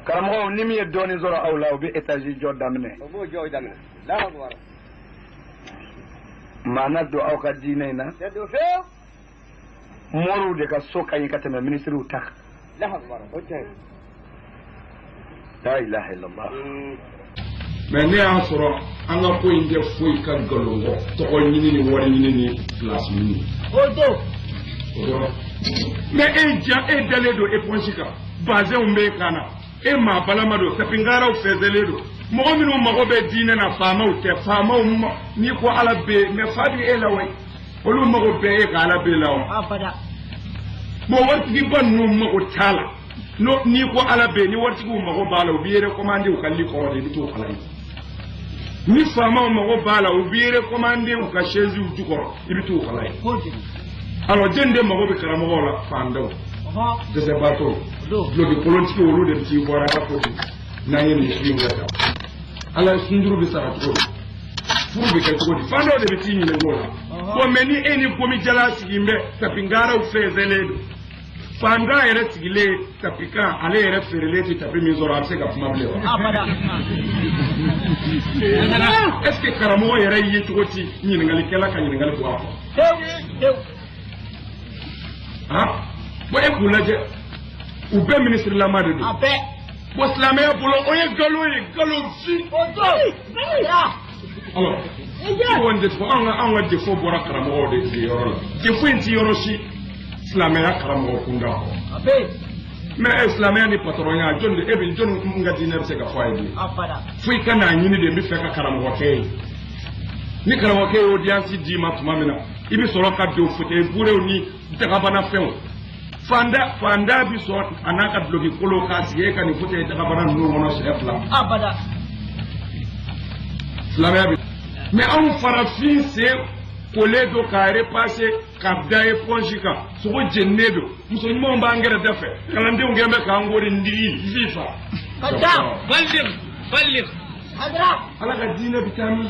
karamɔgɔw ni min ye dɔɔnin sɔrɔ aw la u bɛ etazi jɔ daminɛ o b'o jɔ daminɛ Allahu akbar maana don aw ka diinɛ in na tɛ don fewu moriw de ka so ka ɲi ka tɛmɛ minisiriw ta kan Allahu akbar o tiɲɛ la ilaha illallah mɛ ne y'a sɔrɔ an ka ko in tɛ foyi ka nkalon kɔ tɔgɔ ɲini ni wari ɲini ni pilasi ɲini o don o yɔrɔ mɛ e ja e dalen don eponsi kan bazɛnw bɛ e kan na e maa balama don tapi ngaraw fɛnsɛnlen don mɔgɔ minnu mago bɛ diinɛ na faamaw tɛ faamaw n'i ko ala bɛ yen mɛ fa bɛ e la wa olu mago bɛ e ka ala bɛ la wa abada bɔn waritigiba ninnu mago t'a la non n'i ko ala bɛ ni waritigiw mago b'a la u b'i yɛrɛ commandé u ka lit kɔrɔ de i bɛ t'o kalan yen ni faamaw mago b'a la u b'i yɛrɛ commandé u ka chaisew jukɔrɔ i bɛ t'o kalan yen alors jɔni de mago bɛ karamɔgɔw la fantanw dɛsɛbaatɔ duloki kolontigiw olu de bɛ t'i bara k'a fɔ ten n'an ye nin fili wɛrɛ ta ala sun juru bɛ sara cogo di furu bɛ kɛ cogo di fantanw de bɛ t'i ɲininka o la bon mɛ ni e ni gomijala sigilen bɛ tapi ngaraw fɛnsɛnlen don Fantan yɛrɛ sigilen tapi kan ale yɛrɛ feerelen tɛ tapi min sɔrɔ a bɛ se ka kuma bilen wa est ce que karamɔgɔ yɛrɛ ye cogo ci ɲininkalikɛla ka ɲininkali bɔ a kɔ han bon e k'u lajɛ u bɛɛ minisirilama de don bɔn silamɛya bolo o ye nkalon ye nkalon fin alors kɔni defo an ka an ka defo bɔra karamɔgɔw de fɛ yɔrɔ la defo in ti yɔrɔ si silamɛya karamɔgɔ kunda kɔ mɛ e silamɛya ni patɔrɔnya jɔni de e bɛ jɔni mun ka diinɛ bɛ se ka fɔ a ye bi fo i ka n'a ɲini de n b'a fɛ ka karamɔgɔkɛ ye ni karamɔgɔkɛ ye audience d'i ma tuma min na i bɛ sɔrɔ ka don fauteuil burew ni dagabana fɛnw fantan fantan bi sɔn a n'a ka duloki kolon ka sigi e ka nin fote dagabana ninnu kɔnɔ siɲɛ fila abada silamɛya bi mɛ anw farafin sen kolen don k'a repase ka da eponsi kan sogo jeninen don muso ɲumanw b'an gɛrɛ da fɛ kalandenw kɛn bɛ k'an kori n digi fifa ka da balir balir ala ka diinɛ bi taa min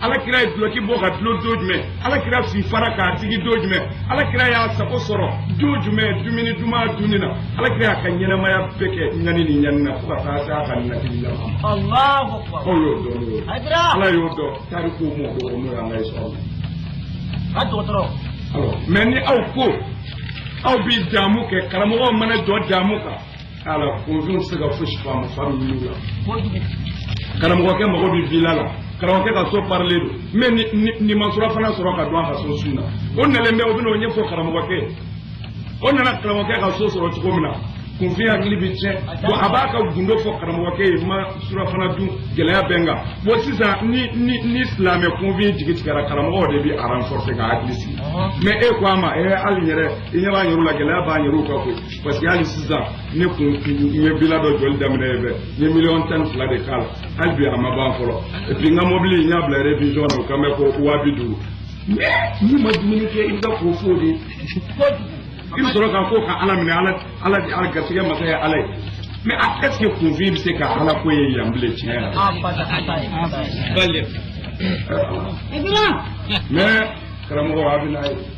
ala kira ye duloki bɔ ka dulon don jumɛn ala kira si fara k'a sigi don jumɛn ala kira y'a sago sɔrɔ don jumɛn dumuni duman dunni na ala kira y'a ka ɲɛnamaya bɛɛ kɛ ɲani ni ɲani na fo ka taa se a ka natili la ma Allahu akbar. aw y'o dɔn n'o ye Hadira. ala y'o dɔn tariku m'o dɔn n'o y'an ka histoire ye Ka dɔgɔtɔrɔ. alors mɛ ni aw ko aw bɛ damu kɛ karamɔgɔw mana jɔ damu kan ala kunfin tɛ se ka fosi fɔ a ma fa bɛ wuli la karamɔgɔkɛ mago bɛ vila la karamɔgɔkɛ ka so parilen don mɛ n'i ma surafana sɔrɔ ka dun a ka so su na o nalen bɛ o bɛna o ɲɛfɔ karamɔgɔkɛ o nana karamɔgɔkɛ ka so sɔrɔ cogo min na kunfin hakili bɛ tiɲɛ bon a b'a ka gundo fɔ karamɔgɔkɛ ye n ma surafana dun gɛlɛya bɛ n kan bon sisan ni ni ni silamɛ kunfin jigi tigɛra karamɔgɔ de b'a renforcer k'a hakili sigi mɛ e ko a ma ee hali n yɛrɛ i ɲɛ b'an yɛrɛ la gɛlɛya b'an yɛrɛ kan koyi parce que hali sisan ne kun ye vila dɔ jɔli daminɛ ye bɛ n ye miliyɔn tan ni fila de k'a la hali bi a ma ban fɔlɔ et puis n ka mɔbili n y'a bila révision na o kan bɛ ko waa bi duuru n'i ma dumuni kɛ i bɛ ka ko fɔ de i bɛ sɔrɔ k'a fɔ ka ala minɛ ala ala ala garisɛgɛ masa ye ala ye mɛ a est ce que kunfin bɛ se ka ala ko ye yan bilen tiɲɛ yɛrɛ la mɛ karamɔgɔ a bɛ n'a ye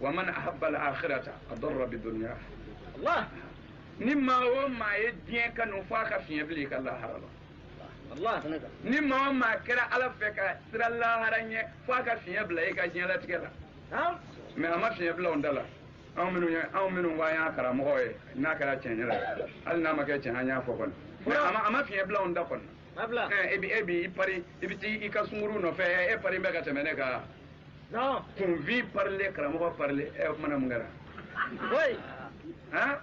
waman ahabba al-akhirata adarra bi dunya Allah ni maa o maa ye diɲɛ kanu f'a ka fiɲɛ bila i ka lahara la Allah ni maa o maa kɛra ala fɛ ka siran lahara ɲɛ f'a ka fiɲɛ bila i ka diɲɛlatigɛ la Naam. mɛ a ma fiɲɛ bila an ta la anw minnu ye anw minnu ko an ye karamɔgɔ ye n'a kɛra tiɲɛ yɛrɛ ye hali n'a ma kɛ tiɲɛ an y'a fɔ kɔni mɛ a ma a ma fiɲɛ bila an ta kɔni na Allah. ɛ e bi e bi i pari i bi t'i ka sunkuru nɔfɛ ɛ e pari bɛ ka tɛmɛ ne kan Non. kunfin parilen karamɔgɔ parilen ɛ o kuma na mun kɛra. Oui. Hein?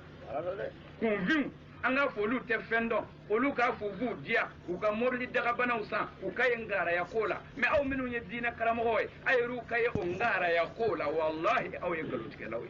kunfinw an k'a fɔ olu tɛ fɛn dɔn olu k'a fɔ u b'u diya u ka mobili dakabanaw san u ka ye ngaraya ko la mɛ aw minnu ye diinɛ karamɔgɔ ye aw yɛrɛ ka ye o ngaraya ko la walahi aw ye nkalontigɛlaw ye